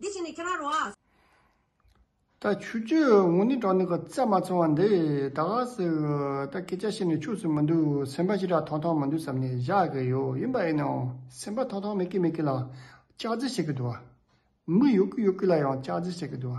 དེ་བཞིན་ནི་ཁྱེད་རང་རོ། ད་ཆུ་ཆུ་འུ་ནི་གྲོགས་ནི་གོ་བརྩེ་མ་ཚང་བ་འདི་ད་ག་ཟེ་ད་སྐད་ཆ་བཤད་ནས་ཆུགས་སུ་མི་འདུག་སེམས་པ་ཞི་དྲག་ཐོང་ཐོང་མི་འདུག་བསམ་ནས་བཞག་གི་ཡོད་ཡིན་པ་ཡིན་ནའང་སེམས་པ་ཐོང་ཐོང་མེད་ཀི་མེད་ཀི་ལ་ལྕག་རྫི་བྱེད་ཀི་འདུག་མི་ཡོད་ཀི་ཡོད་ཀི་ལ་ཡང་ལྕག་རྫི་བྱེད་ཀི་འདུག་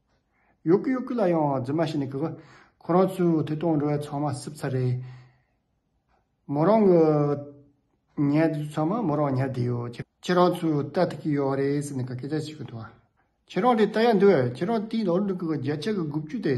ཡོད་གི་ཡོད་གི་ལ་ཡང་རྫུན་མ་བྱས་ནས་གི་གི། ཁོ་རང་ཚོའི་ཐོས་དང་འགྲོ་བའི་ཚང་མ་སྲིབ་ཚ་རེད། མོ་རང་གི་ཉལ་བདེ་ཚང་མ་མོ་རང་ཉལ་བདེ་ཡོད། ཁྱེད་རང་ཚོས་ལྟ་ཐུབ་ཀྱི་ཡོད་རེད་ཟེར་ནས་གི་སྐད་ཆ་བྱེད་ཀྱི་འདུག་ཁྱེད་རང་དེ་ལྟ་ཡག་འདུག་ཁྱེད་རང་དེའི་ནང་དུ་གི་རྒྱ་ཆེ་གི་དགུ་བཅུ་དེ།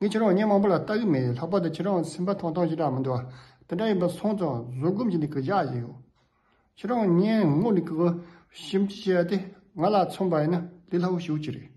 ངས་ཁྱེད་རང་ཉིན་མང་པོ་ལ་ལྟ་གི་མེད་ལྷག་པར་དུ་ཁྱེད་རང་སེམས་པ་ཐང་ཐང་ཞིག་དྲག་མི་འདུག་དེ་འདྲ་ཡིན་པ་སོང་ཙང་བཟོད་སྒོམ་གྱི་ནི་གི་བཞག་ཡིན། ཁྱེད་རང་ཉིན་སྔོན་ནི་གི་ཞིབ་འཇུག་བྱས་ཏེ་ང་ལ་མཚོན་པ་ཡིན་ན་ལི་ལྷ་བུ་ཞིག་ཅིག་རེད།